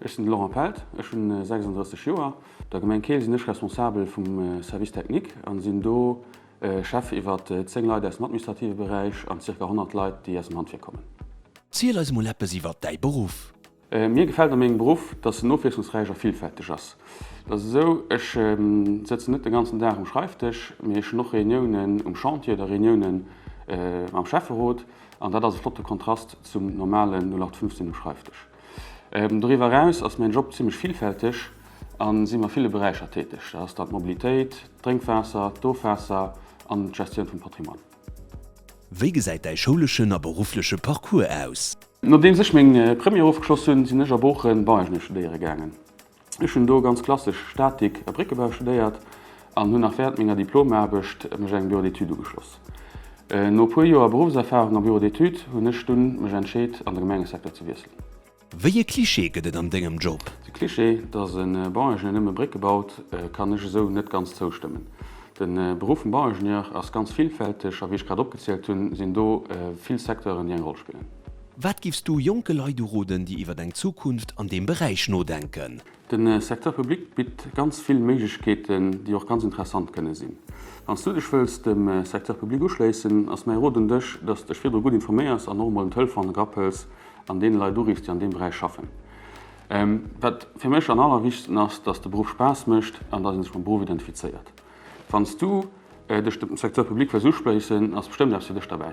Ech sinn de Laurent Pelt, ech hunn 36 Joer. Der Gemeng Keel sinn ech Responsabel vum Service technique an sinn do Chef iwwer 10 Leit aus dem administrative Beräich an zirka 100 Leit déi aus dem Handwierk kommen. Ziel eis mol eppes iwwert däi Beruff. Mir gefält a mengem Beruff, dass en ofwiesslungsräich a villfälteg ass. Et ass esou, ech sëtzen net de ganzen Dag um Schreifdësch, mee ech hunn och Reuniounen um Chantier oder Reuniounen mam Schäfferot. An dat ass e flotte Kontrast zum normalen 0815 um Schreifdësch. Doriwwer eraus ass mäin Job zimlech villfälteg a sinn a ville Beräicher täteg. Dat ass dann d'Mobilitéit, d'Drénkwaasser, d'Ofwaasser an d'Gestioun vum Patrimoine. Wéi gesäit däi schouleschen a beruffleche Parcours aus? Nodeems ech meng Première ofgeschloss hunn, sinn ech a Boochen Bauingenieur studéiere gaangen. Ech hunn do ganz klassesch Statik a Bréckebau studéiert an hunn nach während menger Diplomaarbecht mech engem Bureau d'études ugeschloss. No e puer Joer Beruffserfahrung am Bureau d'études hunn ech dunn mech entscheet an de Gemengesecteur ze wiesselen. Wéi e Cliché gëtt et an dengem Job? De Cliché, dass e Bauingenieur nëmme Brécke baut, kann ech esou net ganz zoustëmmen. De Beruff vum Bauingenieur ass ganz villfälteg a wéi ech grad opgezielt hunn, sinn do vill Secteuren, déi eng Roll spillen. Wat giffs du jonke Leit uroden, déi iwwert eng Zukunft an deem Beräich nodenken? De Secteur public bitt ganz vill Méiglechkeeten, déi och ganz interessant kënne sinn. Wann s du dech wëlls dem Secteur public uschléissen, ass mäi Rot un dech, dass s dech virdru gutt informéiers an och emol en Telefon ergrapp hëls an deene Leit uriffs, déi an deem Beräich schaffen. Wat fir mech an allerwichtegsten ass, dass de Beruff Spaass mécht an dass ee sech mam Beruff identifizéiert. Wanns du dech dem Secteur public wëlls uschléissen, ass bestëmmt eppes fir dech derbäi.